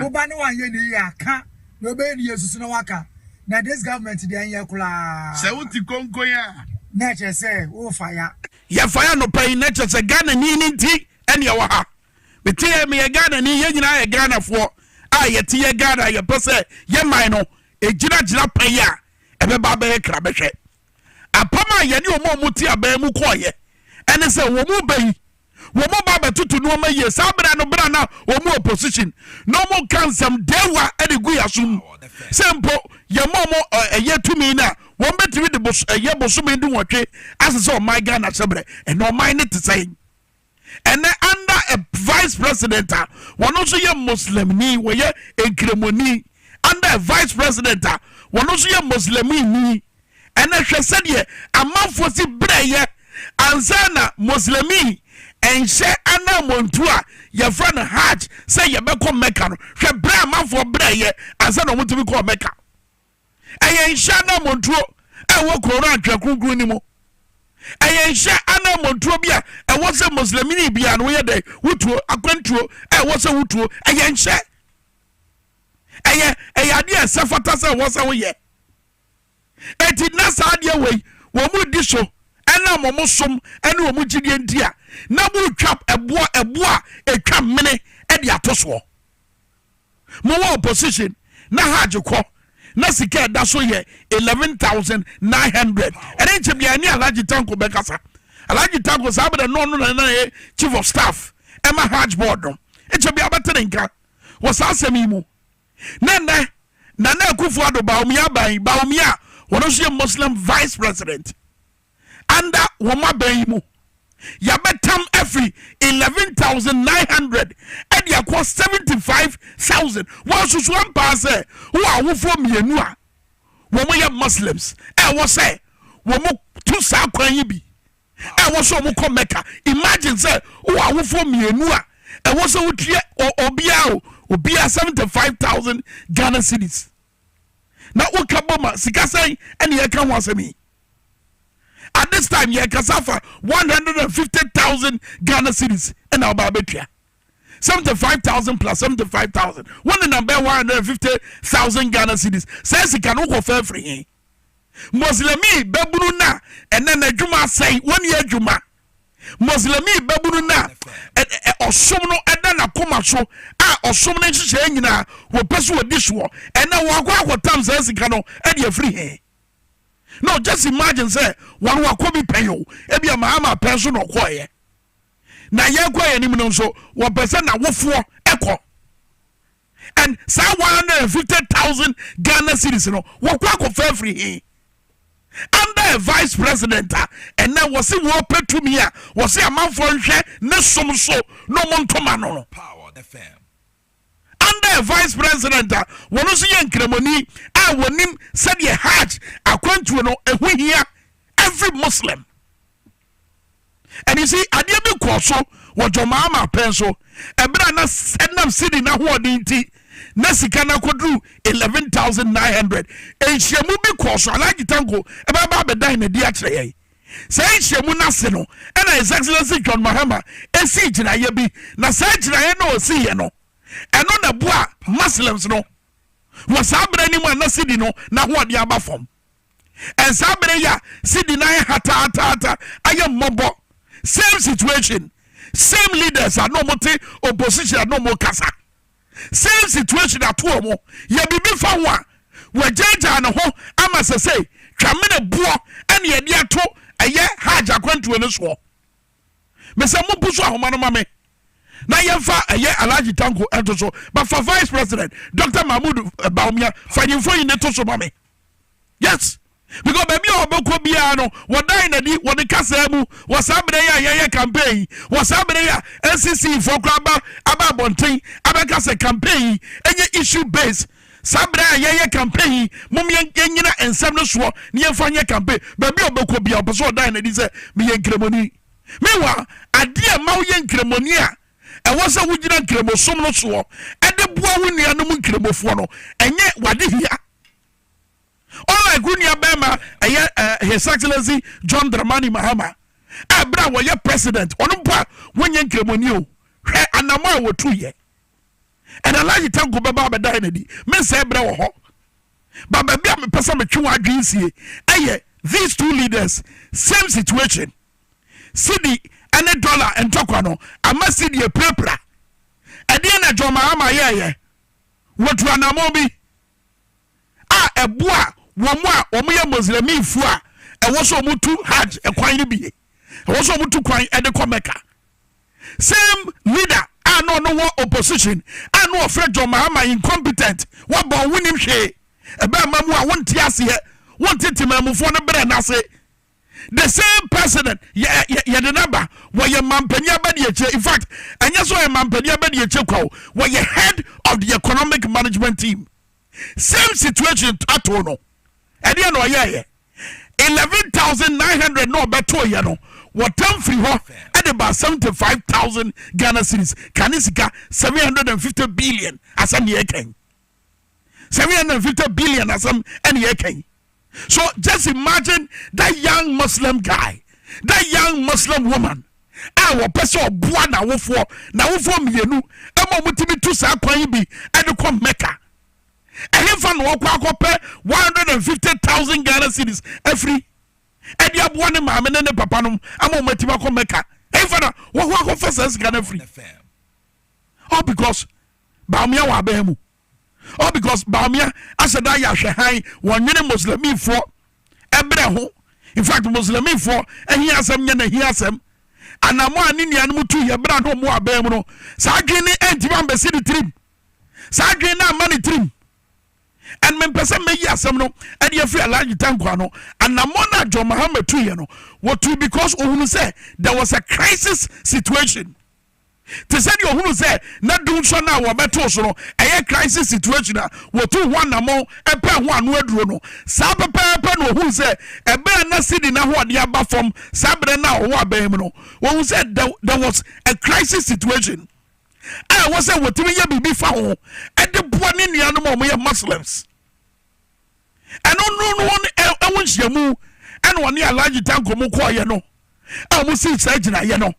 wo ba no anyɛ ne yie a ka na ɔbɛyɛ ne yie susu na waka na this government deɛ ɛnyɛ koraa. Sɛ wo te konkoe a. Na ɛkyerɛ sɛ wo fa ya. Yɛ fa ya nɔpa yi na kyerɛ sɛ Ghana ni no nti ɛne ɛwɔ ha. Me te yɛ me yɛ Ghana ni yɛn nyinaa yɛ Ghana foɔ a yɛ te yɛ Ghana yɛ pɛ sɛ yɛ man no ɛgyina gyina pa yi a ɛbɛba abɛyɛ kra bɛhwɛ. Apam a yɛne ɔmo a ɔmo te aban mu kɔɔyɛ ɛne sɛ wɔn mu bɛ yi wɔn ba bɛtoto nnoɔma yie saa berɛ no berɛ na wɔn mu opposition na wɔn ka nsɛm dewa de gu yaso mu sɛ mpo yɛn ma wɔn ɛyɛ tumi no a wɔn bɛtumi de bos ɛyɛ bosome du nwɔtwe asɛ sɛ ɔman Ghana hyɛ berɛ ɛna ɔman ne te sɛn ɛnɛ under a vice president a wɔn nso yɛ muslimni wɔyɛ nkramoni under a vice president a wɔn nso yɛ muslimni Ɛnna hwɛ sɛdeɛ amanfoɔ si brɛeɛ ansa na Moslemi nhyɛ ananmɔntuo a yɛfrɛ no Hajj sɛ yɛbɛkɔ Mecca no. Hwɛ berɛ a amanfoɔ brɛeɛ ansa na wɔtumi kɔɔ Mecca. Ɛyɛ nhyɛ ananmɔntuo a ɛwɔ Koran Twerɛ Kronkron no mu. Ɛyɛ nhyɛ ananmɔntuo bi a ɛwɔ sɛ Muslimini biara no woyɛ dɛn wotuo akwantuo a ɛwɔ sɛ wotuo. Ɛyɛ nhyɛ. Ɛyɛ ɛyɛ adeɛ a ɛsɛ fata sɛ ɛwɔ sɛ woyɛ. Enti na saa adeɛ wei wɔredi so ɛnam wɔn som ne wɔn gyidie nti a na motwa ɛboɔ ɛboɔ a ɛtwa mene ɛde ato soɔ. Mowɔ opposition na hajj kɔ na sika ɛda so yɛ eleven thousand nine hundred ɛne nkyɛ bia ɛne Alhaji Tanko bɛkasa. Alhaji Tanko saa bɛdɛ no ɔno na na yɛ chief of staff ɛma hajj board no nkyɛ bia bɛte ne nka wɔ saa asɛm yi mu. ne nnɛ Nana Akufo-Addo Bawumia-aban yi, Bawumia a ɔno nso yɛ Muslim Vice President under wɔn aban yi mu. Yɛabɛtam afiri eleven thousand nine hundred de akɔ seventy five thousand. Wɔasusu ampaa sɛ wowɔ awofoɔ mmienu a wɔyɛ Muslims a ɛwɔ sɛ wɔtu saa kwan yi bi. ɛwɔ sɛ wɔkɔ mɛka imagine sɛ wowɔ awofoɔ mmienu a ɛwɔ sɛ wotua obiara o obiara seventy five thousand ghana cedis na woka bɔ ma sika sɛn ɛne yɛka ho asɛm yi at this time yɛkasa fa one hundred and fifty thousand ghana cedis ɛna ɔbaa bɛtua seventy five thousand plus seventy five thousand wɔn nenam bɛyɛ one hundred and fifty thousand ghana cedis sɛ sika no wokɔ fɛfiri he Moslɛmi babunu no a ɛnnɛ n'adwuma asɛe, wɔnni adwuma. Moslɛmi babunu no a ɔsom no da n'akoma so, a ɔsom no nhyehyɛeɛ nyinaa wɔpɛ sɛ wɔdi soɔ, ɛnnɛ wɔakɔ akɔtam saa sika no de afiri he? No, just imagine sɛ wɔn wakɔ bi pɛn o, ebi a Mahama pɛn so na ɔkɔeɛ. Na yɛkɔ yɛn anim no nso, wɔpɛ sɛ n'awofoɔ kɔ. and saa one hundred and fifty thousand Ghana cedis no wɔkɔ akɔfa afiri he? Under a vice president a ɛnɛ wɔse wɔpɛ tumi a wɔse amanfoɔ nhwɛ ne som so na ɔmo ntoma no no. Under a vice president a wɔn nso yɛ nkramoni a wɔnim sɛdeɛ hajj akwantuo no ɛho hia every Muslim. And you see, adeɛ bi kɔɔ so wɔ John Mahama pɛn nso. Ɛberɛ a na ɛnam cedi n'ahoɔden nti na sika no akɔduru 11,900. Nhyiamu bi kɔɔ so, Alhaji Tanko ɛbɛba abɛdan no adi akyerɛ yɛn. Saa nhyiamu no ase no, ɛna His Excellency John Mahama ɛsii gyinaeɛ bi, na saa gyinaeɛ no a ɔsiiɛ no, ɛno na ɛboa Muslims no wɔ saa berɛ no mu a na cedi no n'ahoɔden aba fam. and saa bere ya sidi na ayɛ hataataata ayɛ mmɔbɔ same situation same leaders a na wɔte opposition a na wɔkasa same situation ato wɔn yɛ biribi fa ho a wɔagyaagyaa ne ho ama sɛ sɛ twamene boɔ ɛne ɛde ato ɛyɛ hajj akwantuo no soɔ Mesɛ mo bu so ahoma no ma me na yɛmfa ɛyɛ Alhaji Tanko ɛnto so but fa vice president Doctor Mahmood eh, Bawumia fa nyi mfoni ne to so ma me yes because baabi a wɔbɛkɔ biara no wɔdan na di wɔde kasaa mu wɔ saa berɛ yi a yɛyɛ campaign yi wɔ saa berɛ yi a NCC foɔ kora aba aba abɔnten abɛka sɛ campaign yi ɛnyɛ issue based Saa berɛ a yɛyɛ campaign yi, mom yɛnyina nsɛm no soɔ na yɛmfa nyɛ campaign. Baabi a ɔbɛkɔ biara, ɔpɛ sɛ ɔdan n'adi sɛ meyɛ Nkramohni. Meanwhile, adeɛ a ɛma woyɛ Nkramohni a ɛwɔ sɛ wogyina Nkramosom no soɔ de boa wo nuanom Nkramofoɔ no, ɛnyɛ w'adehia. Unlike wo nuabarima ɛyɛ His Excellency John Dramani Mahama a berɛ a wɔyɛ President, ɔno mpo a wonyɛ Nkramohni o, hwɛ anamɔ a wɔtuiɛ. ɛna Alhaji Tanko bɛba abɛda yɛn adi. Mensɛe berɛ wɔ hɔ. But baabi a mepɛ sɛ metwe wɔn adwene sie ɛyɛ these two leaders same situation. Cedi ɛne dollar ntɔkwa no ama Cedi apirapira. Ɛdeɛ na John Mahama yɛɛyɛ? Wɔtu anamɔn bi. a ɛboa wɔn a wɔyɛ Muslimifo a ɛwɔ sɛ wɔtu Hajj kwan no bi ye. Ɛwɔ sɛ wɔtu kwan de kɔ Mecca. Same leader a na ɔno wɔ opposition a na wɔfrɛ John Mahama incompetent, wabɔn, wonim hwee, ɛbɛma mu a wonte aseɛ, wonte Temanmufoɔ no berɛ no ase. the same president yɛde no aba wɔyɛ mampanin abadiakyire in fact ɛnyɛ sɛ ɔyɛ mampanin abadiakyire kwa o wɔyɛ head of the economic management team same situation ato no ɛdeɛ na ɔyɛɛyɛ eleven thousand nine hundred na ɔbɛtoeɛ no wɔtam firi hɔ ɛde ba seventy five thousand ghana series kane sika seven hundred and fifty billion asɛm deɛ ɛkɛn Sɛ yɛn fifty billion asɛm ɛna yɛka yi. So just imagine that young Muslim guy, that young Muslim woman a wɔpɛ sɛ ɔboa n'awofoɔ n'awofoɔ mmienu ɛma wɔn tumi tu saa kwan yi bi ɛde kɔ Mecca. Ɛhefa na ɔkɔ akɔpɛ one hundred and fifty thousand Ghana cedis afiri ɛde aboa ne maame ne ne papa nom ama wɔn atumi akɔ Mecca. Ɛhefa na wɔkɔ akɔfa saa sika no afiri. All because Bawumia wɔ aban mu all because Bawumia ahyɛ da ayɛ ahwɛhan wɔnwene Muslimifoɔ ɛbrɛ ho in fact Muslimifoɔ ɛhia asɛm nyɛ n'ahia asɛm anamɔ a ne nuanom tu yɛ bra na ɔmo aban mu no saa adwene ne ɛntimi ambɛsi ne tirim saa adwene no amma ne tirim and mempɛ sɛ mɛyi asɛm no ɛde afiri alagye tanko ano anamɔ no a John Mahama tu yɛ no wɔtu because ohunu sɛ there was a crisis situation Te sɛ deɛ ɔhunu sɛ na dunson no a wɔbɛtoo so no yɛ crisis situation a wɔtuu ho anammɔn pɛɛ ho ano aduro no, saa pɛpɛɛpɛ na ɔhunu sɛ ɛberɛ a na Sydney no ahoɔden aba fam saa berɛ no a ɔwɔ abɛn mu no, ɔhunu sɛ there was a crisis situation a ɛwɔ sɛ wɔtumi yɛ biribi fa ho de boa ne nuanom a wɔyɛ Muslims. Ɛno no no ho ɛho nhyiamu ɛna ɔne Alhaji Tanko mu kɔɔyɛ no a wɔsii saa gyinaeɛ no.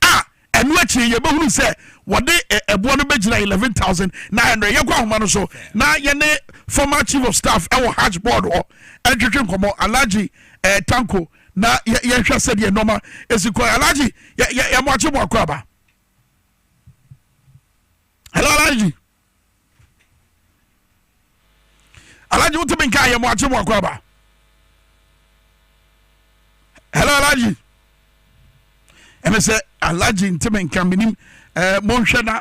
a ɛno akyire yɛbɛhunu sɛ wɔde ɛboɔ no bɛgyina 11900 yɛkɔ ahoma no so na yɛne former chief of staff ɛwɔ hajj board hɔ ɛntwetwe nkɔmmɔ alagye eh, tanko na yɛnhwɛ sɛdeɛ nɔma ɛsi kɔ alagye yɛmoakye mo akɔ aba hello alagye alaji wotumi nka ayɛ mo akye mo akɔ aba hello alaji ɛmɛ sɛ alaji ntumi nka menim eh, monhwɛ na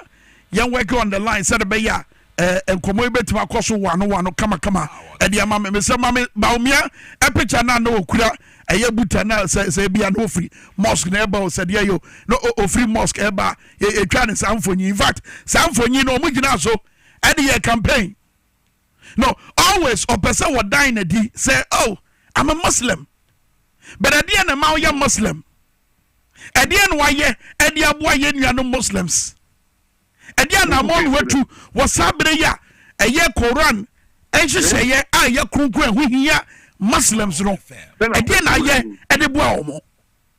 yɛn work on the line sɛde bɛyɛ a eh, nkɔmmɔ yi bɛtumi akɔ so wano wano kamakama ɛde ama me mesɛ ma me baomia ɛpikya no a na ɔkura ɛyɛ buta no sɛ sɛ bia na ɔfiri mosque na ɛba o sɛdeɛ yɛ o na ɔfiri mosque ɛba yɛtwa no saa mfonyin infact saa mfonyin no ɔmo gyina so ɛde yɛ campaign no always ɔpɛ sɛ wɔdan no adi sɛ oh I'm a Muslim but ɛdeɛ na ɛma woyɛ Muslim ɛdeɛ na wayɛ ɛde aboa yɛ nuanom Muslims ɛdeɛ anamɔ na watu wɔ saa bere yi a ɛyɛ Koran nhyehyɛeɛ a ɛyɛ kronkron ɛho hia Muslims no ɛdeɛ na ayɛ ɛde boa wɔn.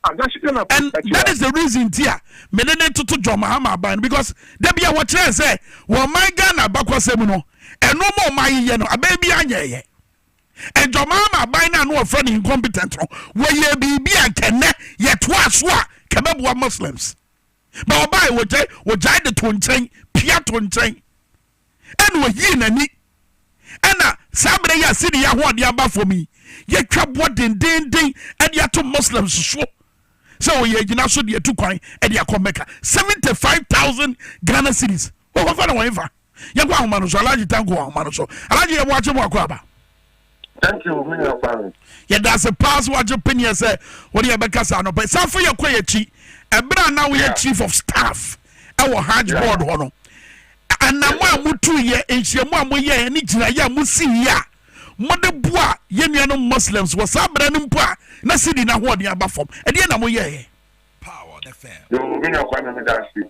and that is the reason ti a me ne ne toto John Mahama aban no because da bi a wɔkyerɛ yɛn sɛ wɔn man Ghana abakɔsɛm no ɛno ma ɔman yi yɛ no abɛn bi anyɛ yɛ and John Mahama aban no a no wɔfrɛ no incompetent no wɔyɛ biribi a nkɛnɛ yɛtoa so a kɛbɛboa Muslims ba ɔbaa wɔgyae wɔgyae de to nkyɛn pia to nkyɛn ɛna ɔyii n'ani. Ɛna saa berɛ yi a Sidi yɛ ahoɔden aba fam yi, yɛtwa boɔ dendeenden de ato Muslims so sɛ ɔyɛ agyina so de atu kwan de akɔ Mecca. 75,000 Ghana cedis. Wɔkɔfa no wɔn fa. Yɛkɔ ahoma no so, Alhaji Tanko ahoma no so. Alhaji yɛboakye mo akɔ aba. Thank you, me nua Kwame. Yɛda ase paa sɛ wagye peneɛ sɛ wode yɛbɛka saa nɔpɛ. San fa yɛ kɔ yɛ akyi. Ɛberɛ a na woyɛ yeah. chief of staff ɛwɔ hajj yeah. board hɔ no. Anam a motu yɛ nhyiamu a moyɛ ne gyinaeɛ a mosi yi a mode boa yɛ nuanom Muslims wɔ saa berɛ no mpo a na sidi no ahoɔden aba fam. Ɛdeɛ na moyɛɛ? Power FM. Yo, me nua Kwame, meda ase.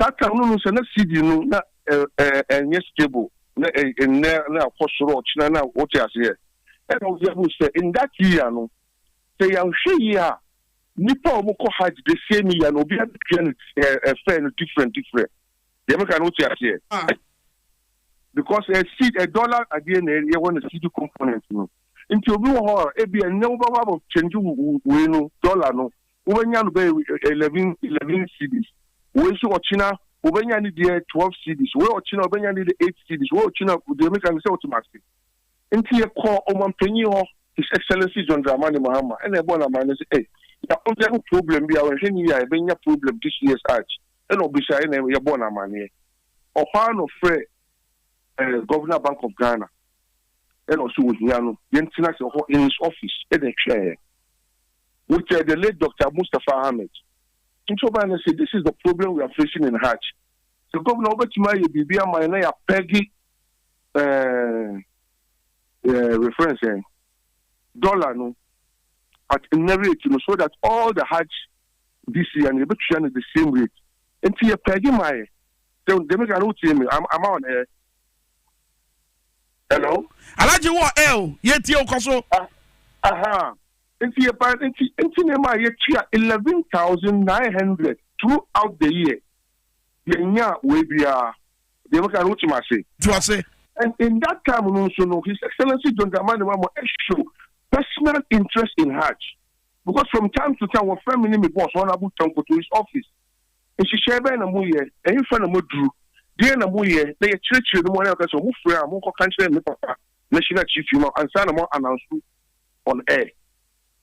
Saa time no no sɛ na CD no na ɛnyɛ stable na nnɛ na akɔ soro ɔkyena na wote aseɛ ɛna wo yɛ hu sɛ in that year no sɛ yɛanhwɛ yie a nnipa a wɔn kɔ hajj the same year no obiara bɛtua no fare no different different deɛ meka no wote aseɛ because a seed a dollar adeɛ na ɛyɛ hɔ na CD component no nti obi wɔ hɔ a ebi ɛnnɛ wobɛhɔ abɔ change wei no dollar no Wobɛnya no bɛyɛ eleven eleven cedis, wei nso ɔkyena wobɛnya ne deɛ twelve cedis, wei ɔkyena wobɛnya ne deɛ eight cedis, wei ɔkyena deɛ meka no sɛ wote m'ase. Nti yɛkɔɔ Ɔmanpanyin hɔ, His Excellency John Dramani Mahama ɛna ɛbɔɔ no amanneɛ sɛ, Ei, yɛakɔgya ho problem bi a yɛnhwɛ no yie a yɛbɛnya problem this year's Hajj, ɛna ɔbisaeɛ ɛna yɛbɔɔ no amanneɛ. Ɔhɔ ara na ɔfrɛɛ eh, Governor Bank of Ghana ɛna ɔsɛ ohia no yɛntena ase hɔ in his office ɛna ɛtwɛn yɛn. We kyɛɛ the late Doctor Mustapha Ahmed nti ɔbae na ɔse this is the problem we are facing in Hajj sɛ Governor wobɛtumi ayɛ biribi ama yɛn na yɛ apɛge eh, eh, refrɛ sɛn dollar no at nnɛ rate no so that all the Hajj this year no yɛbɛtua no the same rate nti yɛ pɛge ma yɛ sɛ dɛmika no wotie me ama wɔn eh, Hello. Alhaji wɔ L, yɛtie wo, kɔ so. Ah, aha. Nti yɛba, nti, nti na ɛma yɛtua eleven thousand nine hundred throughout the year. Yɛnya wei biara. Deɛ meka no, wotim ase. Ti ase. And in that time no nso no, His Excellency John Dramani Mahama show personal interest in Hajj. Because from time to time, wɔfrɛ me ne me boss, Honorable Tanko, to his office. Nhyehyɛe bɛn na moyɛ? Ɛhefa na moaduru? Deɛn na moyɛ na yɛkyerɛkyerɛ no mu anaa yɛka sɛ ɔmo frɛ a monkɔka nkyerɛ ne papa national chief yi ma ansa na mo ananso on air?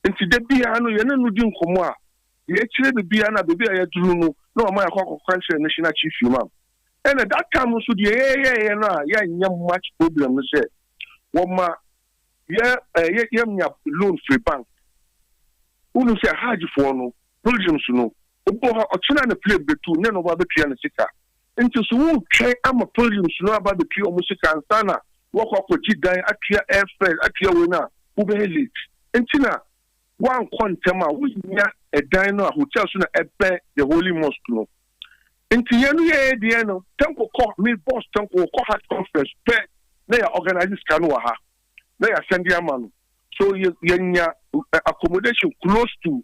Nti da biara no yɛne no di nkɔmmɔ a deɛ ɛkyerɛ no biara no a baabi a yɛaduru no na wama yɛakɔ akɔka nkyerɛ national chief yi ma ɛna that time no nso deɛ yɛyɛeɛ no a yɛanyɛ much problem no sɛ wɔma yɛ ɛɛ yɛnya loan firi bank wonim sɛ hajfoɔ no pilgrims no Obu ha, ɔkyena a na plane betu na ɛna ɔba abetua ne sika. Enti so woretwɛn ama pilgrims no aba abetua wɔn sika ansa na woakɔ akɔgye dan, atua airfare, atua wei no a, wobɛyɛ late. Enti na woankɔ ntɛm a, wonnya ɛdan no a hotel so na ɛbɛn the Holy Mosque no. Enti yɛn no yɛɛ deɛ no, Tanko kɔ, me boss Tanko, ɔkɔ Hajj conference pɛ na yɛ organise sika no wɔ ha na yɛasɛnde ama no. So yɛ, yɛnya accommodation close to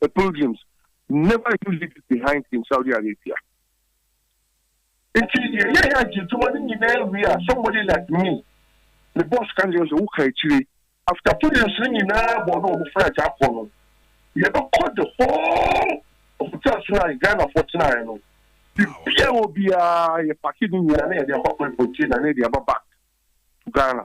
The pilgrims never used it behind in Saudi Arabia. Nti yɛyɛ yɛ agye adwuma no nyinaa wie a, somebody like me, me boss ka kyerɛ me sɛ, woka akyire. After pilgrims no nyinaa bɔ ne wɔn fra agya akɔ no, yɛbɛkɔ the whole of hotel so a Ghanafoɔ tenaeɛ no, biribiara ɛwɔ biara yɛpake ne nyinaa na yɛde akɔ akɔ importi na yɛde aba back to Ghana.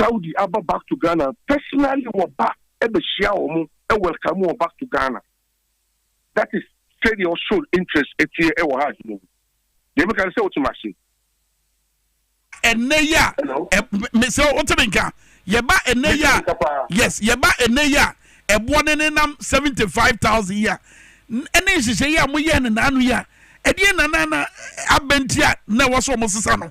Saudi aba back to Ghana personally wɔ ba ɛbɛhyia wɔn ɛwelcome wɔn back to Ghana that is sɛdeɛ ɔsoro interest ɛteɛ ɛwɔ hajj no mu deɛ meka no sɛ wote mase ɛnɛ yi a mesɛ wote me nka yɛba ɛnɛ yi a yes yɛba ɛnɛ yi a ɛboɔ ne ne nam seventy five thousand yi a ɛne nhyehyɛ yi a moyɛ ne naano yi a ɛdeɛ nanana abɛnti a na ɛwɔ so ɔmo sesa no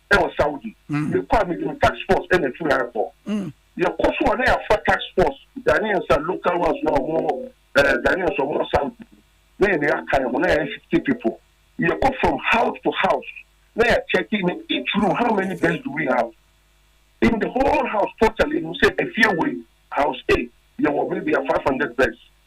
wɔ Saudi. Mekɔ a mede me task force na ɛtu yɛn kɔ. Yɛkɔ so a na yɛafa task force Ghanaians a local ones no a wɔn wɔ ɛɛ Ghanaians a wɔn wɔ Saudi no na yɛn na yɛaka yɛn ho na yɛyɛ sixty people. Yɛkɔ from house to house na yɛ check in each room how many beds do we have in the whole house totally yɛnim sɛ efie wei house A yɛwɔ maybe a five hundred beds.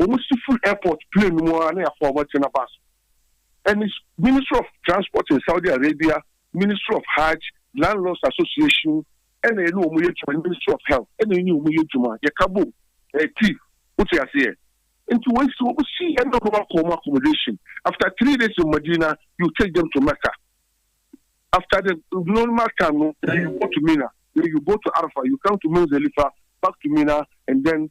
Wɔn si firi airport plane no mu ara na yɛafa wɔn akyɛ no aba so. Ɛne Ministry of Transport in Saudi Arabia, Ministry of Hajj, Landlords Association ɛna yɛne wɔn yɛ adwuma ne Ministry of Health ɛna yɛne wɔn yɛ adwuma. Yɛka bom ɛyɛ team. Wote aseɛ? Nti wɔn si wɔn si ɛna wɔn akɔ wɔn accommodation. After three days in Madina, you take them to Mecca. After the normal time no, then you go to Mina. Then you go to Arafah, you come to Muzdalifa, back to Mina and then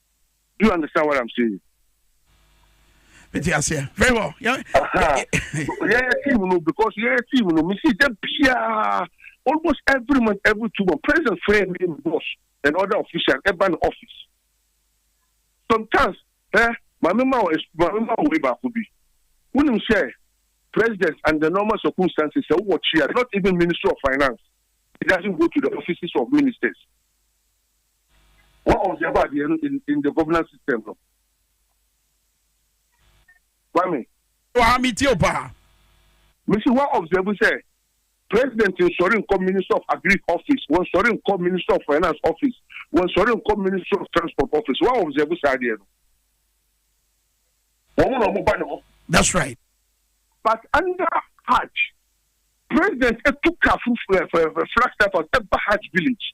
Do you understand what I'm saying? mete aseɛ very well yɛyɛ team no because yɛyɛ team no mesi da biaa almost every month every two months president frɛ me ne boss and other official ɛba ne office sometimes eh, maame ma wɔ maame ma wɔ wei baako bi wonim sɛ president and the normal circumstances sɛ wowɔ kyia not even ministry of finance it doesn't go to the offices of ministers Wɔn ɔnhyɛfo adeɛ no in in the governance system no. Kwame. Wɔ ha me tie wo paa. Me se wa observe sɛ president nsɔre nkɔ ministry of agric office, wɔ nsɔre nkɔ ministry of finance office, wɔ nsɔre nkɔ ministry of transport office, wa observe saa adeɛ no? Wɔn na wɔn ba ne hɔ. That's right. But under hajj, president etu car foforo ɛfɛ, flag staff house, ɛba hajj village.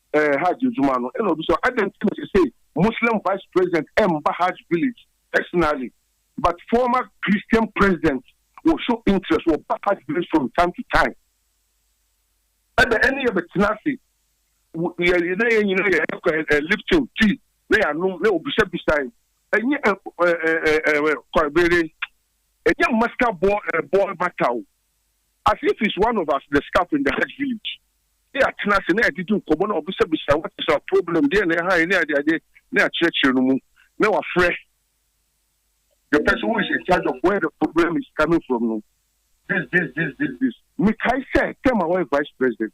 eh, Hajj adwuma no. Ɛna obi sɛ, adɛn nti na ɛsɛ sɛ Muslim Vice President mba Hajj village personally, but former Christian President wɔ show interest, wɔba Hajj village from time to time. Ɛbɛ ɛne yɛbɛtena ase, yɛ na yɛn nyinaa yɛ ɛkɔ eh, eh, lifting tea na yɛanom na obisabisae. Ɛnyɛ ɛkɔbere, ɛnyɛ master ball ball matter o. As if he's one of us the staff in the hajj village ne yɛatena ase na yɛadidi nkɔmmɔ na wabisabisa what is our problem deɛn na ɛha yɛn ne adeade ne akyerɛkyerɛ no mu na wafrɛ the person who is in charge of where the problem is coming from no this this this this this. Mekae sɛ term a ɔyɛ vice president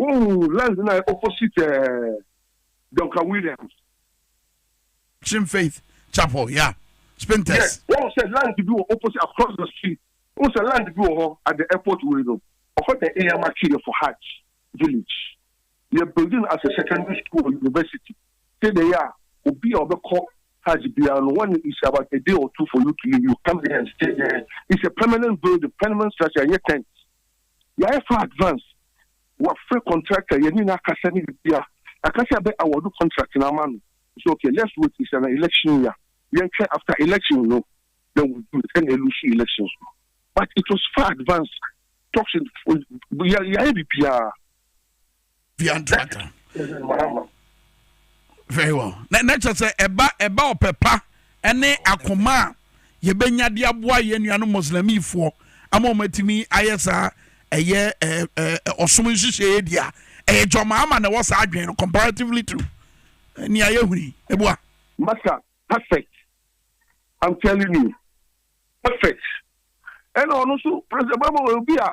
Ooh lens no ayɛ opposite ɛɛ Duncan Williams. Kyem Faith Chapel ya Spintex. Yɛ wahu sɛ land bi wɔ opposite across the street wohu sɛ land bi wɔ hɔ at the airport wei no ɔfrɛ sɛ Eyama Kyere for Hajj village yɛ build no as a secondary school or university sɛdeɛ ɛyɛ a obi a ɔbɛkɔ Hajj biara no when it's about a day or two for you to leave you come there and stay there it's a permanent building permanent structure ɛnyɛ tent. Yayɛ far advance wafrɛ contractor yɛne no akasa ne biribiaa yɛaka sɛ yɛbɛ award contract no ama no ɔse ok let's wait nhyɛ na election year yɛntwɛn after election no then we do it ɛna ɛlusu elections no but it was far advance talks yɛayɛ biribiaa. fiantraka very well na na kyerɛ sɛ ɛba ɛba ɔpɛ pa ɛne akoma a yɛbɛnya de aboa yɛn nuanom mɔslamifoɔ ama wɔn atumi ayɛ saa ɛyɛ ɛɛ ɛɛ ɔsom nhyehyɛeɛ di a ɛyɛ jɔnmaa ama na ɛwɔ saa adwene no comparatively to nea yɛ huni ebua. masa perfect i'm telling you perfect ɛna ɔno nso president bɛbɔ obi a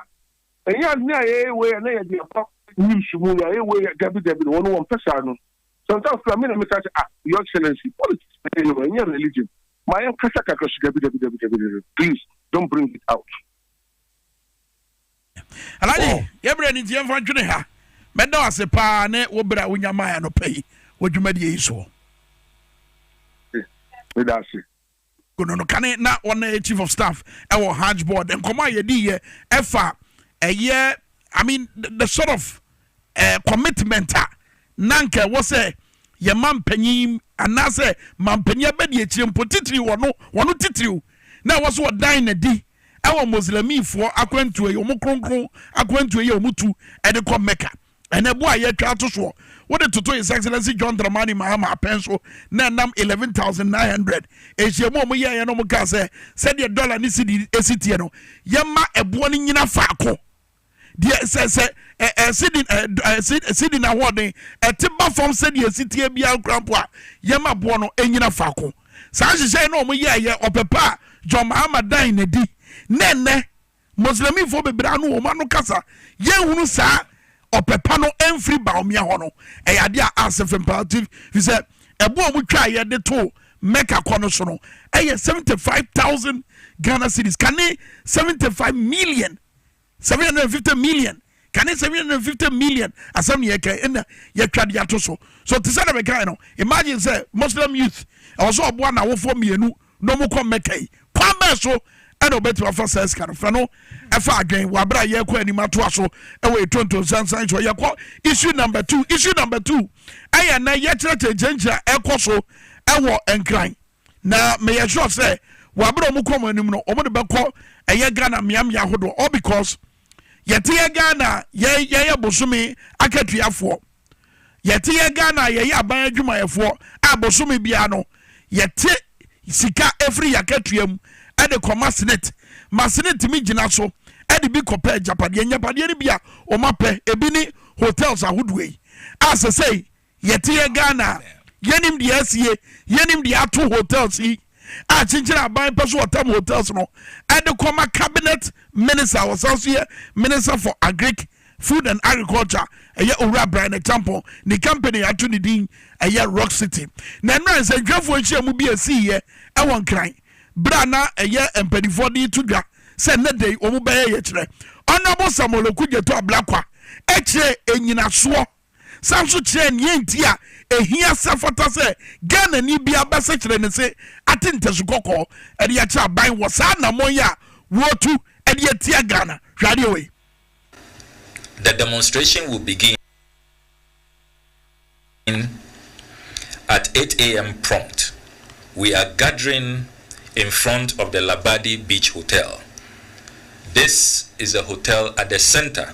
Ɛnyɛ ade a yɛyɛ wei a na yɛde akɔ news mu, yɛayɛ wei a, dabi dabi, wɔn wɔmpɛ saa no. Sometimes koraa me na mɛka sɛ, ah, Your Excellency, politics na yɛyɛ o, ɛnyɛ religion, ma yɛnkasa kakra so, dabi dabi dabi dabi dabi, please don't bring it out. Alhaji, oh. yɛ berɛ ni nti yɛmfa ntwene ha. Mɛda wo ase paa ne wo berɛ a wonya maa anɔpa yi wɔ dwumadie yi soɔ. Meda ase. Gono no kane na ɔna yɛ chief of staff ɛwɔ hajj board nkɔmɔ a yɛdi yɛ ɛfa ɛyɛ i mean the sort of uh, commitment a na nka ɛwɔ sɛ yɛ ma mpanyin anaasɛ ma mpanyin abɛdi akyire mpo titiri wɔno wɔno titiriw na ɛwɔ so ɔdan na di ɛwɔ muslimifoɔ akwantuo yɛ wɔn kronkron akwantuo yɛ wɔn tu ɛde kɔ mecca ɛna ɛboɔ a yɛatwa ato soɔ wode toto his excellency john dramani mahama apɛn so na ɛnam 11900 nhyiamu a wɔyɛeɛ no wɔkaa sɛ sɛdeɛ dɔla ne sidi ɛsi teɛ no yɛma ɛboɔ no nyina faako deɛ sɛ sɛ ɛsidi ɛsidi n'ahoɔden ɛte ba fam sɛdeɛ ɛsi teɛ biara kura mpo a yɛma boɔ no ɛnyina faako saa nhyehyɛeɛ no wɔyɛeɛ ɔpɛ pa a john mahama dan n'adi na ɛnɛ Muslimifo bebree ano wɔn ano kasa yɛnhunu saa ɔpɛ pa no mfiri Bawumia hɔ no ɛyɛ adeɛ a asɛ fam paa ti fi sɛ ɛbo a wɔtwa a yɛde to Mecca kɔ no so no ɛyɛ seventy five thousand Ghana cedis kane seventy five million seven hundred and fifty million kane seven hundred and fifty million asɛm ne yɛka ɛna yɛtwa de ato so so te sɛ na bɛkae no imagine sɛ Muslim youth ɛwɔ sɛ ɔboa n'awofoɔ mmienu na wɔkɔ Mecca yi, kwan bɛn so na wɔbɛtumi afa saa sika no? Fa no fa adwene wɔ abere a yɛrekɔ anim atoa so wɔ etonto nsansan so. Yɛkɔ issue number two. Issue number two ɛyɛ na yɛkyerɛkyerɛ nkyerɛnkyerɛ a ɛkɔ so ɛwɔ Nkran, na meyɛ sure sɛ wɔ abere a wɔn kɔ wɔn anim no, wɔn de bɛkɔ ɛyɛ Ghana mmeammea ahodoɔ, all because yɛte yɛ Ghana yɛyɛ bosome akatuafoɔ. Yɛte yɛ Ghana a yɛyɛ aban adwumayɛfoɔ a bosome biara no yɛte sika firi yɛakatua mu de kɔma senate ma senate tumi gyina so de bi kɔpɛ agyapadeɛ. Ngyapadeɛ no bi a wɔn apɛ ebi ne hotels ahodoɔ yi a sɛsɛi yɛte yɛ Ghana a yɛnim deɛ asie, yɛnim deɛ ato hotels yi. a Kyekyere Aban Pɛ So Ɔtam Hotels no de kɔma Cabinet Minister a ɔsan nso yɛ Minister for Agric, Food and Agriculture, ɛyɛ Owura Brian Acheampong. Ne company a yɛato ne din ɛyɛ Rock City. Na nnora nsɛntwerɛfoɔ nhyiamu bi a ɛsiiɛ wɔ Nkran berɛ a na ɛyɛ mpanimfoɔ de reto dwa sɛ nnɛ da yi wɔbɛyɛ yɛkyerɛ Honourable Samuel Okudzeto Ablakwa kyerɛɛ nnyinasoɔ san nso kyerɛɛ nea enti a ehia sɛ ɛfata sɛ Ghanani biara bɛsɛkyerɛ ne se ate ntasu kɔkɔɔ de akyerɛ aban wɔ saa anammɔn yi a wɔretu de atia Ghana. Hwɛ adeɛ wei. The demonstration will begin at eight AM prompt. We are gathering in front of the Labadi Beach Hotel. This is a hotel at the center.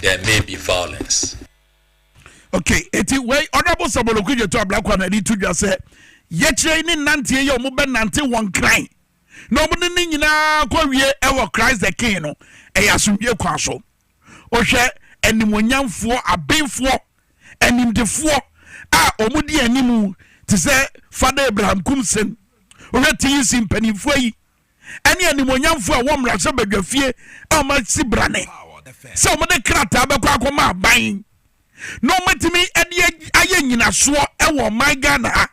there may be violence. okay eti wei honourable sabolo kudje to ablakwa na ɛde to dwa sɛ yɛkyerɛ yi ne nanteɛ yɛ wɔn bɛnante wɔn kran na wɔn ne ne nyinaa kɔ wie ɛwɔ christ the king no ɛyɛ asomdwie kwan so wohwɛ animonyamfoɔ abenfoɔ animdefoɔ a wɔn di anim te sɛ fada abraham kumsen wohwɛ tc mpanimfoɔ yi ɛne animuonyamfoɔ a ɛwɔ mmarahyɛbadwafie a wɔasi brane sɛ wɔde krataa bɛkɔ akɔma aban na wɔatumi de ayɛ nyinasoɔ wɔ ɔman ghana ha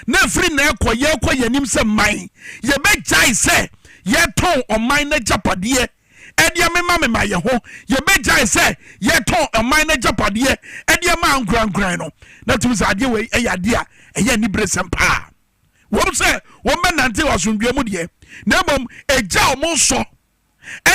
na ɛfiri na ɛkɔ yɛkɔ yɛn anim sɛ mman yɛbɛgyae sɛ yɛtɔn ɔman no agyapadeɛ ɛde amema mema yɛ ho yɛbɛgyae sɛ yɛtɔn ɔman no agyapadeɛ ɛde ama ankorankoran no na tumi sɛ adeɛ wei ɛyɛ adeɛ a ɛyɛ aniberesɛm paa wɔn sɛ wɔmmɛnante asomdwoeɛ mu deɛ, na mmom ɛgya wɔn nsɔ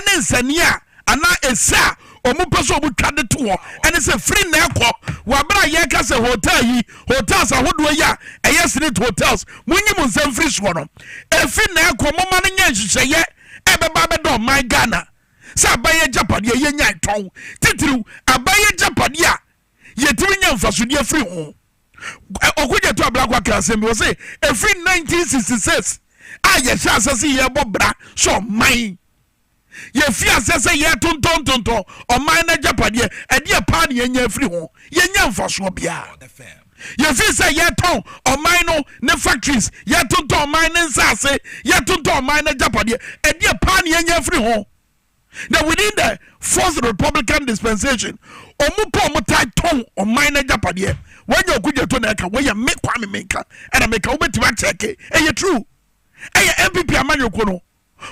ne nsania a anaa ɛsɛ a wɔn pɛ sɛ wɔn twa de to hɔ ɛne sɛ firi nnɛ kɔ wɔ abere a yɛka sɛ hotel yi hotels ahodoɔ yi a ɛyɛ senate hotels monyi mo nsɛm firi soɔ no ɛfiri nnɛ kɔ moma no nyɛ nhyehyɛeɛ ɛbɛba bɛdɔ ɔman ghana sɛ abayɛ gyapadeɛ yɛnya tɔn titiriw abayɛ gyapadeɛ a yɛtumi nya mfasodeɛ firi ho. Ɔkogyato Ablakwa ka asɛm bi wɔ se ɛfiri 1966 a yɛhyɛ asɛ sɛ yɛbɔ bra sɛ ɔman yɛfi asɛ sɛ yɛtontɔntontɔn ɔman no agyapadeɛ ɛdeɛ paa ne yɛnya afiri ho yɛnya mfasoɔ biara yɛfiri sɛ yɛtɔn ɔman no ne factories yɛtontɔn ɔman ne nsaase yɛtontɔn ɔman no agyapadeɛ ɛdeɛ paa ne yɛnya afiri ho na within the fourth republican dispensation ɔmo kɔ ɔmo taa tɔn ɔman n'agyapadeɛ wɔnyɛ ɔkudzeto na ɛka wɔyɛ me kwame menka ɛna meka wobɛtumi akyɛke ɛyɛ true ɛyɛ npp amanyɔkuo no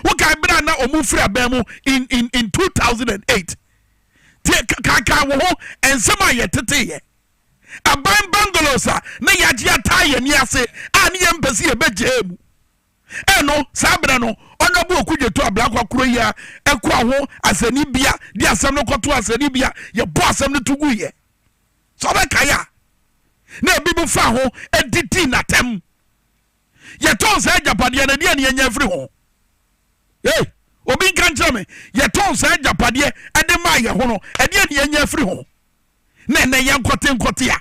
wokae berɛ a na ɔmo firi abɛn mu in in in 2008 tie kaakaa wɔ ho nsɛm a yɛteteyɛ aban bangalows a na yɛagye ataa yɛn ni ase a ne yɛn mpɛ sɛ yɛbɛgyaa mu Eno saa berɛ no Honourable Okudzeto Ablakwa Kuroyia ɛkoa ho asɛnnibea de asɛm no kɔtoo asɛnnibea, yɛbɔɔ asɛm no to guiɛ. Sɛ wobɛkae a, na ebinom faa ho de dii no atɛm. Yɛtɔn saa agyapadeɛ no, ɛdeɛn na yɛnya afiri ho? Ei! Obi nka nkyerɛ me, yɛtɔn saa agyapadeɛ de maa yɛn ho no, ɛdeɛn na yɛnya afiri ho? Na ɛnnɛ yɛnkɔte nkɔte a.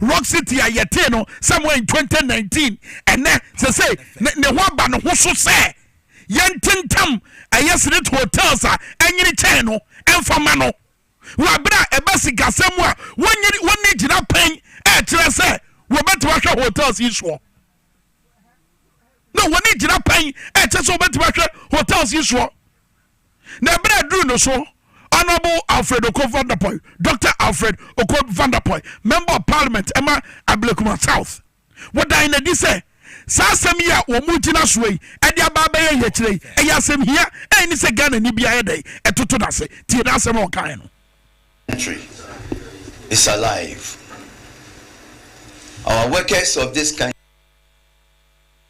Rock City a yɛtee no Samuel in 2019 ɛnnɛ sesei ne ne ho aba ne ho so sɛ yɛntentam ɛyɛ Zenith Hotels a ɛnyene kyɛn no ɛmfa mma no. Wɔ abere a ɛba sikasɛm mu a wonnye wonni gyina pɛn ɛrekyerɛ sɛ wɔbɛtumi ahwɛ hotels yi soɔ. Na wɔnni gyina pɛn ɛkyɛ sɛ wɔbɛtumi ahwɛ hotels yi soɔ. na ɛberɛ a ɛduru no so, Honourable Alfred Okoh Vanderpoy, Doctor Alfred Okoh Vanderpoy, Member of Parliament ɛma Ablekuma South, wɔdan no adi sɛ, saa asɛm yi a wɔgyina soɔ yi de aba abɛyɛ yɛkyerɛ yi, ɛyɛ asɛmhia a ɛnni sɛ Ghanani biara yɛ dɛn ɛtoto no ase. Tie n'asɛm a ɔkaeɛ no. country is alive our workers of this country.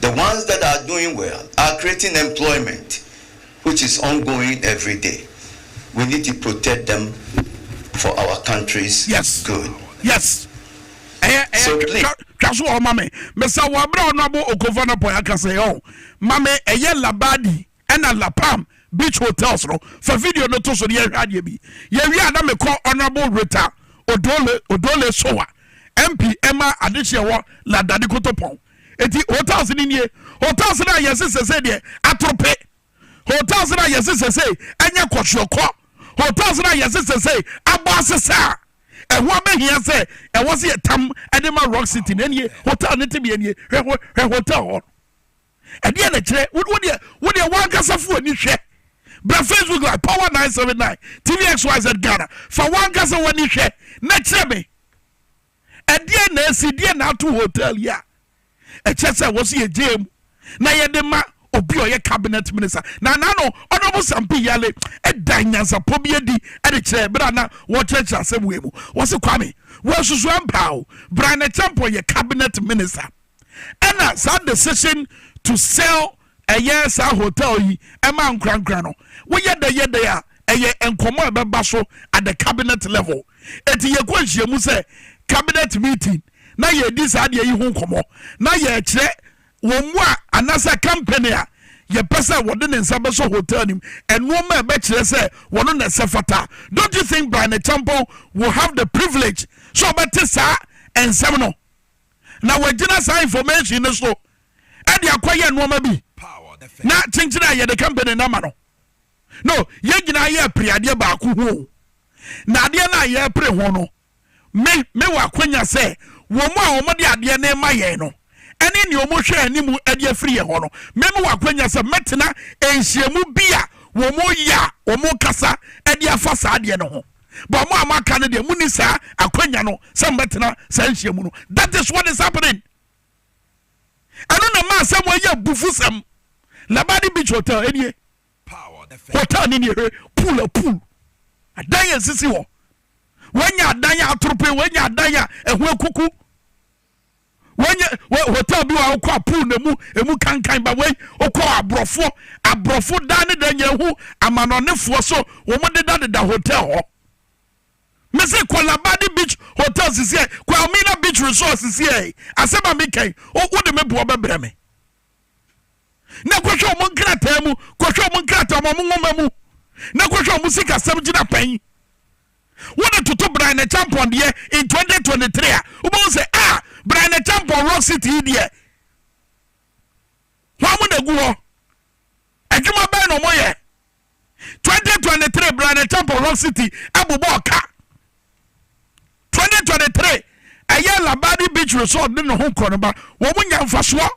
the ones that are doing well are creating employment which is ongoing everyday we need to protect them for our country's yes. good. Yes. ɛyɛ ɛyɛ twa so wɔ ma me mesa wɔ abira ɔno abo okofo no pɔ yaka sɛ ɔ ma me ɛyɛ labadi Ɛna La Palm Beach Hotels no, fa video no to so na yɛnhwɛ adeɛ bi. Yɛwie a na mekɔ Honourable Rita Odole, Odole Sowa, MP ma adehyeɛ wɔ La Dade Kotopon. Enti hotels no nie, hotels no a yɛse sɛsei deɛ atorope, hotels no a yɛse sɛsei ɛnyɛ kɔhweɔkɔ, hotels no a yɛse sɛsei abɔ asesa a ɛho abɛhia sɛ ɛwɔ sɛ yɛtam de ma Rock City no, ɛnie hotel no tebea nie, hwɛ, hwɛ hotel hɔ no. Ɛdeɛn na ɛkyerɛ? Wo wo deɛ wo deɛ w'ankasa fo ani hwɛ. Bra Facebook live power nine seven nine tvxyz Ghana fa w'ankasa w'ani hwɛ na kyerɛ me. Ɛdeɛn na ɛsi deɛ na ato hotel yi a ɛkyɛ sɛ wɔ so yɛ gyee mu na yɛde ma obi a ɔyɛ cabinet minister na na no honourable Sampi Yale ɛda nyansapɔ bi adi ɛde kyerɛ ɛberɛ a na wɔkyerɛkyerɛ asɛm wei mu wɔsi Kwame wɔasusu ampa o Brian Acheampong yɛ cabinet minister. Ɛna saa decision to sell ɛyɛ saa hotel yi ɛma ankorankora no woyɛ dɛ yɛ dɛ a ɛyɛ nkɔmɔ a ɛbɛba so at the cabinet level eti yɛ kɔ nhyiamu sɛ cabinet meeting na yɛ di saa deɛ yi ho nkɔmɔ na yɛ kyerɛ wɔn mu a anasa company a yɛ pɛ sɛ wɔde ne nsa bɛsɔ hotel nim ɛnoɔma a ɛbɛkyerɛ sɛ wɔn na ɛsɛ fata don't you think by ne champo will have the privilege so ɔbɛte saa nsɛm no. na wɔagyina saa information no so de akɔyɛ nnoɔma bi na kyenkyen a yɛde company no ama no no yɛn nyinaa yɛ apiri adeɛ baako ho o na adeɛ no a yɛrepere ho no me me wɔ akwanya sɛ wɔn a wɔde adeɛ no ma yɛn no ɛne nea wɔhwɛ anim de afiri yɛn hɔ no me me wɔ akwanya sɛ mɛtena nhyiamu bi a wɔn yɛ a wɔn kasa de afa saa adeɛ no ho But mo a mo aka no deɛ mo ni saa akwanya no sɛ mo bɛtena saa nhyia mu no. That is what is happening. Ɛno na maa sɛ mo ayɛ abufu sɛm. Labadi beach hotel ɛnie. Hotel ne nie hwɛ pool a pool. Adan a esisi hɔ. Wanya adan a atorope, wanya adan a ɛho akuku. wɔnyɛ wɔ hotel bi wɔ wokɔ a pool na mu emu kankan ba wei wokɔ aborɔfo aborɔfo dan ne dan nyɛ ho amanɔnefoɔ so wɔn deda deda hotel hɔ mese kɔ labadi beach hotel sisi ɛ kɔ amina beach resort sisi ɛ asɛm a mi kɛn wo de me boɔ bɛbrɛ me na kɔhwɛ ɔmo nkrataa mu kɔhwɛ ɔmo nkrataa mu ɔmo nwoma mu na kɔhwɛ ɔmo sikasɛm gyina pɛn wode toto Brian Acheampong deɛ in 2023 a wobɛhu sɛ a ah, Brian Acheampong rock city yi deɛ hɔ mo na gu hɔ adwuma bɛn na ɔmo yɛ 2023 bra na champ of rock city ɛbobɔ ɔka 2023 ɛyɛ labadi beach resort ne ne ho korɔ no ba wɔn nya mfasoɔ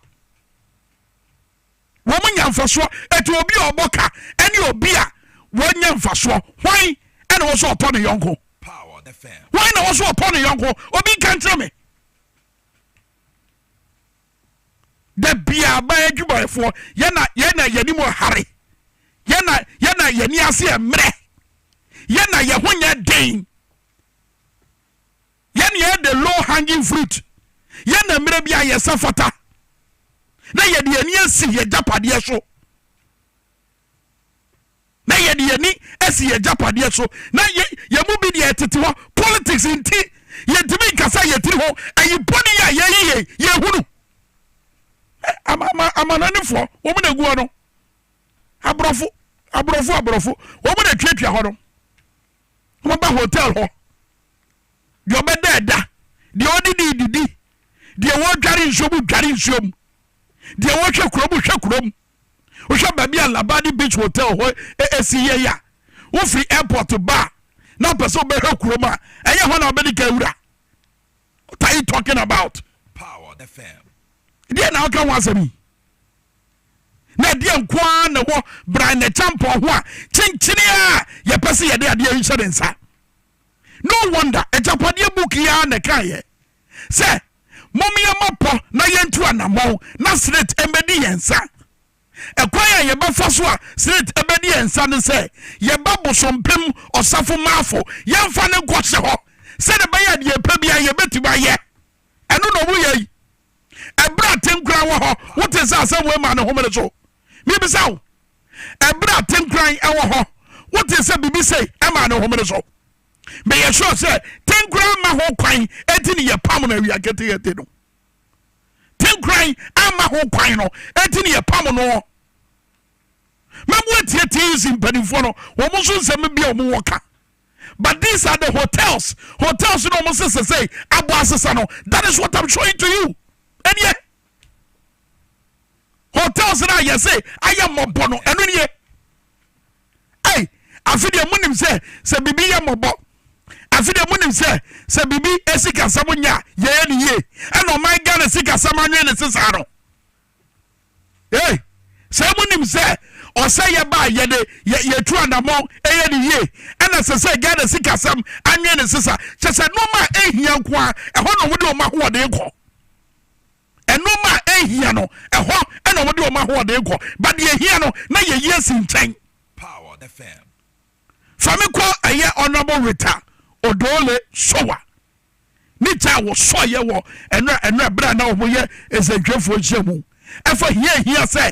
wɔn nya mfasoɔ ɛti obi a ɔbɔ ka ɛne obi a wɔnya mfasoɔ hwan ɛna wɔsɔ ɔpɔ ne yɔnko hwan na wɔsɔ ɔpɔ ne yɔnko obi nka nkyerɛ me. Da biara aban adwumayɛfoɔ yɛn na yɛn na yɛn anim hare, yɛn na yɛn na yɛn ani ase mmerɛ, yɛn na yɛn ho nyɛ den, yɛn na yɛn de low hanging fruit, yɛn na mmerɛ bi a yɛsɛ fata na yɛde yɛn ani asi yɛn gyapadeɛ so. na yɛde yɛn ani asi yɛn agyapadeɛ so, na yɛn mu bi deɛ ɛtete hɔ, politics nti yɛntumi nkasa yɛn tiri ho, ɛyi bɔne yi a yɛyi yɛn yɛn hunu ama ama amanɔnefoɔ wɔn na egu hɔ no aborɔfo aborɔfo aborɔfo wɔn na tuatua hɔ no wɔn ba hotel hɔ deɛ ɔbɛda ɛda deɛ ɔde di didi deɛ wɔdware nsuo mu dware nsuo mu deɛ wɔhwɛ kurom hwɛ kurom. wohwɛ baabi a labadi beach hotel hɔ esi yɛ ya wofiri airport ba a na apɛ sɛ wobɛhwɛ kurom a ɛyɛ hɔ na wobɛdi ka awura what are you talking about deɛ na woka ho asɛm yi na ɛdeɛ nko ara na ɛwɔ bran na kyampɔn ho a kyenkyene a yɛpɛ sɛ yɛde adeɛ nhyɛ ne nsa no wonder agyapadeɛ book yi ara na ɛkaeɛ sɛ, Mom yɛmmɔ pɔ na yɛntu anammɔn na Snit mmɛdi yɛn nsa. Ɛkwan a yɛbɛfa so a Snit bɛdi yɛn nsa ne sɛ yɛba Bosompem Ɔsafo Maafo, yɛmfa no nkɔhyɛ hɔ sɛdeɛ ɛbɛyɛ a deɛ yɛpɛ biara yɛbɛtumi ayɛ. Ɛno na wɔyɛ yi. Ɛberɛ a Tenkoran wɔ hɔ, wote sɛ asɛm wei maa ne homene so? Mebisa wo, ɛberɛ a Tenkoran wɔ hɔ, wote sɛ biribi sei maa ne homene so? Meyɛ sure sɛ tenkoran ma ho kwan eti ne yɛpam no awia ketekete no. Tenkoran ama ho kwan no eti ne yɛpam no. Mɛboa tie TUC mpanimfoɔ no wɔn nso nsɛm bi a wɔn wɔ ka. But these are the hotels. Hotels no wɔn sese sɛ abɔ asesa no. That is what I'm showing to you. Ɛniɛ hotels na yɛse ayɛ mmɔbɔ no ɛno nie. ei afe deɛ monim sɛ sɛ biribi yɛ mmɔbɔ afe deɛ monim sɛ sɛ biribi sikasɛm nyɛ a yɛyɛ ne yie ɛna ɔman ghana sikasɛm anwene ne sesaa no ei sɛ monim sɛ ɔsɛ yɛba yɛde yɛtu anammɔn ɛyɛ ne yie ɛna sɛ sɛ ghana sikasɛm anwene ne sesa kyɛ sɛ nnoɔma a ɛhia nko a ɛhɔ na wɔde wɔn ahoɔden kɔ Nnoɔma a ɛnhia no, ɛhɔ na wɔde wɔn ahoɔden kɔ, but deɛ ɛhia no, na yɛyi asi nkyɛn. Fa me kɔ ɛyɛ Honourable Rita Odoole Sowa ne gya a wɔsɔeɛ wɔ ɛnora ɛnora berɛ a na wɔyɛ ɛsɛntwerɛfoɔ nhyiamu ɛfa hia a ɛhia sɛ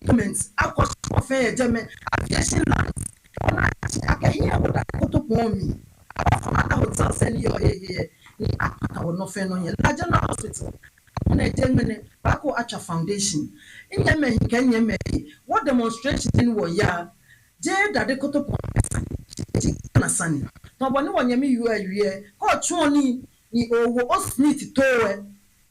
Government akɔ so afɛn yɛ German aviation lines wɔ n'akye akɛhea wɔ da koto pɔn mi abafam ada hotel sɛ ne yɛ ɔhɛhɛɛ ne apata wɔ nɔfɛ no nyɛ la general hospital wɔ na ɛgye mene baako atwa foundation nyɛ mɛ he kɛ nyɛ mɛ he wɔ demonstration ne wɔ ya gye dade koto pɔn mɛ sane gye Ghana sane tɔn bɔ ne wɔ nyɛ me yuɛ wiɛ kɔ twɔn ni ni o wɔ o Smith towɛ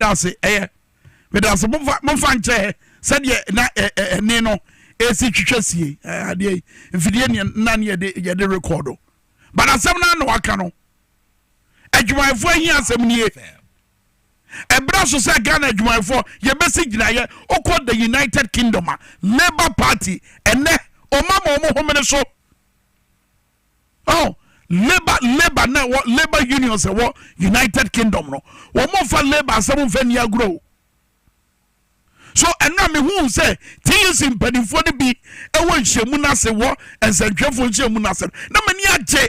dase ɛyɛ medase mofa mofa nkyɛ sɛdeɛ na ɛne no ɛsi twitwa sie adeɛ yi mfidie ne na ne yɛde yɛde rekɔdo but asɛm no na waka no adwumayɛfoɔ ahia asɛm nie Ɛbra so sɛ Ghana adwumayɛfoɔ yɛbɛsi gyinaeɛ, wokɔ the United Kingdom a, Labour Party ɛnɛ wɔma ma wɔn homene so. Oh, labour labour na ɛwɔ labour unions ɛwɔ united kingdom no wɔn mfa labour asɛm mfa ni agorɔ o. So ɛno a mehuu sɛ TUC mpanimfoɔ no bi wɔ nhyiamu no ase wɔ nsɛntwerɛfoɔ nhyiamu no ase no, na m'ani agye.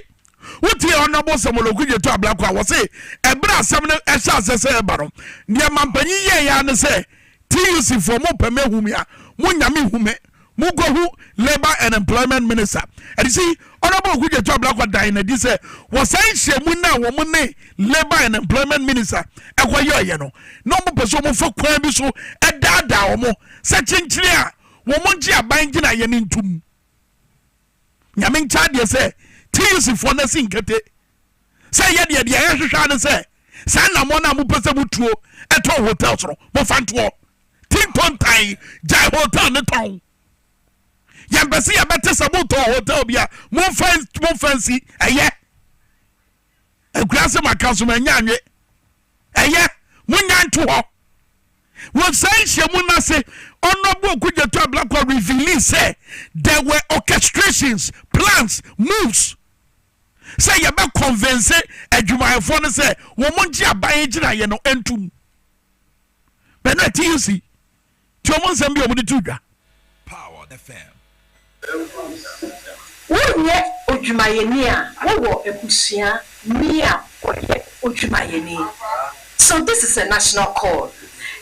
Wotie Honourable Samuel Okudzeto Ablakwa a wɔse ɛberɛ asɛm no ɛhyɛ ase sɛ ɛba no, deɛ mampanyin yɛeɛ ara ne sɛ TUC foɔ mopɛ me ahu me a, monnya me nhu me. Mukohu Labour and Employment Minister Adisi Honourable Oku Jetu Ablakwa dan no adi sɛ wɔ saa nhyiamu no a wɔn ne Labour and Employment Minister ɛkɔyɛeɛ no na wɔpɛ sɛ wɔfa kwan bi so daadaa wɔn sɛ kyenkyene a wɔn ngye aban gyinaeɛ no ntom. Nyame nkyɛ adeɛ sɛ TUC foɔ no asi nkete sɛ yɛ deɛ deɛ yɛhwehwɛ ara ne sɛ saa nnamɔn no a mopɛ sɛ motuo tɔn hotels no mofa ntoɔ. Team Kontan gyae hotel no tɔn. Yɛmpɛ sɛ yɛbɛte sɛ motɔn hotel bi a momfa momfa nsi ɛyɛ. Akurase maka so manya anwe. Ɛyɛ, monnyae nto hɔ. Wɔ saa nhyiamu no ase, Honourable Okudzeto Ablakwa revealii sɛ there were orchestrations, plans, moves sɛ yɛbɛ convince adwumayɛfoɔ no sɛ wɔn ngye aban gyinaeɛ no ntom. Bɛno a TUC. Tie wɔn nsɛm bi a wɔde to dwa. Wonyɛ odwumayɛni a wowɔ abusua ni a ɔyɛ odwumayɛni? So this is a national call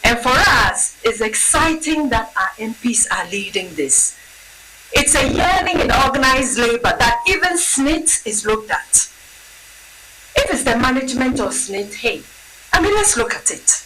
and for us it's exciting that our MPs are leading this. It's a yearning in organised labour that even SSNIT is looked at. If it's the management of SSNIT hey, I mean let's look at it.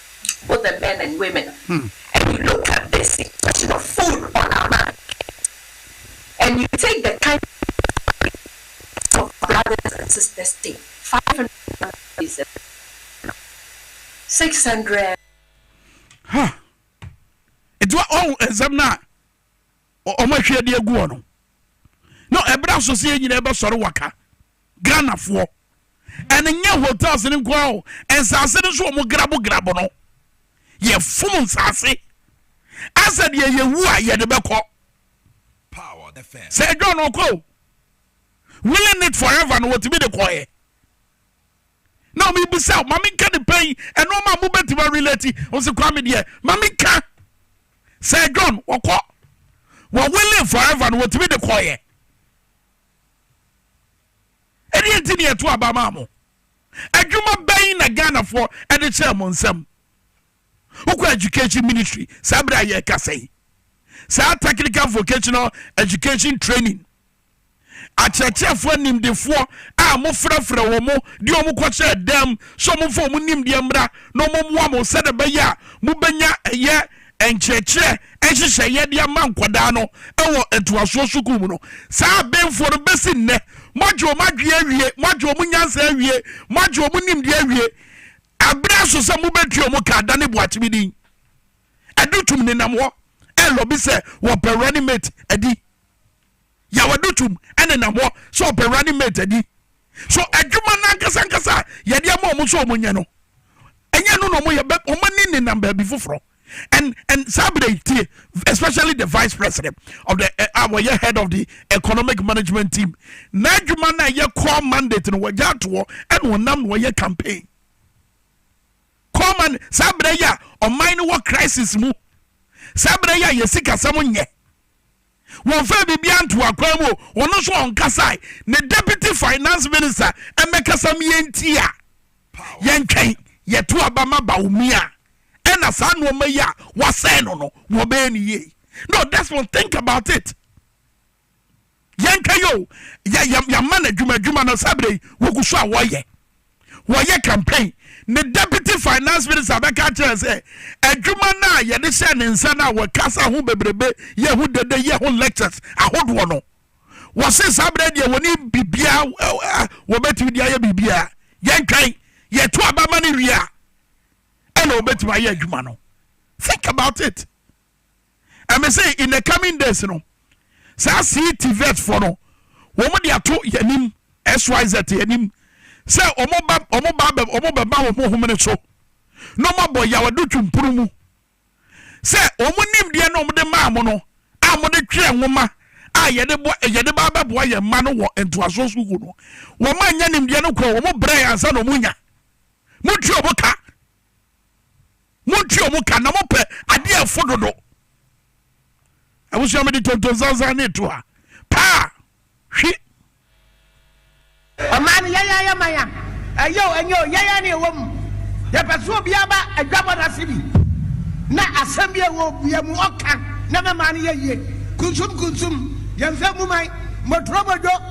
both the men and women and you look at this question of food on our mind and you take the kind of brothers and sisters take 500 600 ha ɛdi wa ɔn nsɛm no a wɔn ahwie de agu hɔ no no ɛberɛ asɔseɛ nyinaa bɛsɔre waka ghanafoɔ ɛne nyɛ hotels no nko ara o nsaase no nso wɔn grabo grabo no yɛfom nsaase asɛ deɛ yɛwu a yɛde bɛkɔ sɛ ɛdwa no ɔkɔ o willing it forever no wɔtumi de kɔɛ na ɔmo bisa o ma mi nka ne pɛn ɛnoɔma a mo bɛ ti ma relate ɔmo sɛ kwame deɛ ma mi nka sɛ john wɔkɔ wɔ wele forever no wɔtumi de kɔɔyɛ ɛdeɛ nti ne ɛto aba maa mo adwuma bɛn na ghanafoɔ ɛde kyerɛ mo nsɛm Wokɔ education ministry saa berɛ a yɛrekasa yi, saa technical vocational education training akyerɛkyerɛfoɔ nimdefoɔ a mofrɛfrɛ wɔ mo de ɔmo kɔhyɛ dɛm sɛ ɔmomfa ɔmo nimdeɛ mmra na ɔmommoa mo sɛdeɛ ɛbɛyɛ a mobɛnya ɛyɛ nkyerɛkyerɛ nhyehyɛeɛ de ama nkwadaa no ɛwɔ ntoasoɔ sukuu mu no saa abenfoɔ no bɛsi nnɛ moagye ɔmo adwene awie moagye ɔmo nyansa awie moagye ɔmo nimdeɛ awie Abrɛ aso sɛ mobɛtua wɔn ka adane Boakyeme din. Adutum nenam hɔ relɔbi sɛ wɔpɛ running mate adi. Yaw Adutum nenam hɔ sɛ ɔpɛ running mate adi. So adwuma no ankasa ankasa a yɛde ama wɔn sɛ wɔnyɛ no, ɛnyɛ ɛno na wɔyɛ? Wɔn ani nenam baabi foforɔ. and and saa bere yi tie especially the vice president of the eh, a wɔyɛ head of the economic management team n'adwuma na ɛyɛ core mandate no wɔgya atoɔ ɛna ɔnam na wɔyɛ campaign core man saa bere yi a ɔman no wɔ crisis mu saa bere yi a yɛ sikasɛm nyɛ Wɔmfaa biribiara ntoo akwan mu o, ɔno nso ɔnkasae. Ne Deputy Finance Minister mmɛkasa ma yɛntie a, yɛntwɛn, yɛto aba ma Bawumia na saa nnoɔma yi a wɔasɛe no no, wɔbɛyɛ no yie. No, Desmond, think about it. Yɛntwɛn o, yɛama no adwuma adwuma no saa berɛ yi, wɔgu so a wɔyɛ. wɔyɛ campaign ne deputy finance minister bɛka akyerɛ sɛ adwuma no a yɛde hyɛ ne nsa no a wɔkasa ho bebrebe yɛ ho dede yɛ ho lectures ahodoɔ no wɔse saa berɛ deɛ wɔne biribiaa wɔbɛtumi de ayɛ biribiaa yɛntwɛn yɛto abama no wie a ɛna wɔbɛtumi ayɛ adwuma no think about it and me say in the coming days no saa see tvet fo no wɔn de ato yɛnim syz yɛnim sɛ wɔn ba wɔn ba bɛ wɔn bɛba wɔn homene so na wɔn abɔ yawado twumpuru mu sɛ wɔn nimdeɛ na wɔn de maa mo no a wɔn de twerɛ nwoma a yɛde bɔ yɛde ba abɛboa yɛn mma no wɔ ntoasoɔ sukuu no wɔn a nya nimdeɛ no kɔ wɔn brɛ yɛn ansa na wɔn nya mo tuo mo ka. Montwe wɔn ka na mopɛ adeɛ a ɛfo dodo. Abusua mede tontonsansan ne to ha paa hwi. Ɔman no yɛyɛ ayɛ man a ɛyɛ o ɛnyɛ o yɛyɛ ne ɛwɔ mu yɛpɛ so obiara ba adwabɔ no ase bi na asɛm bi ɛwɔ bia mu ɔka na mɛma no yɛ yie kunsum kunsum yɛmfɛ mu man mɔturo mɔdwo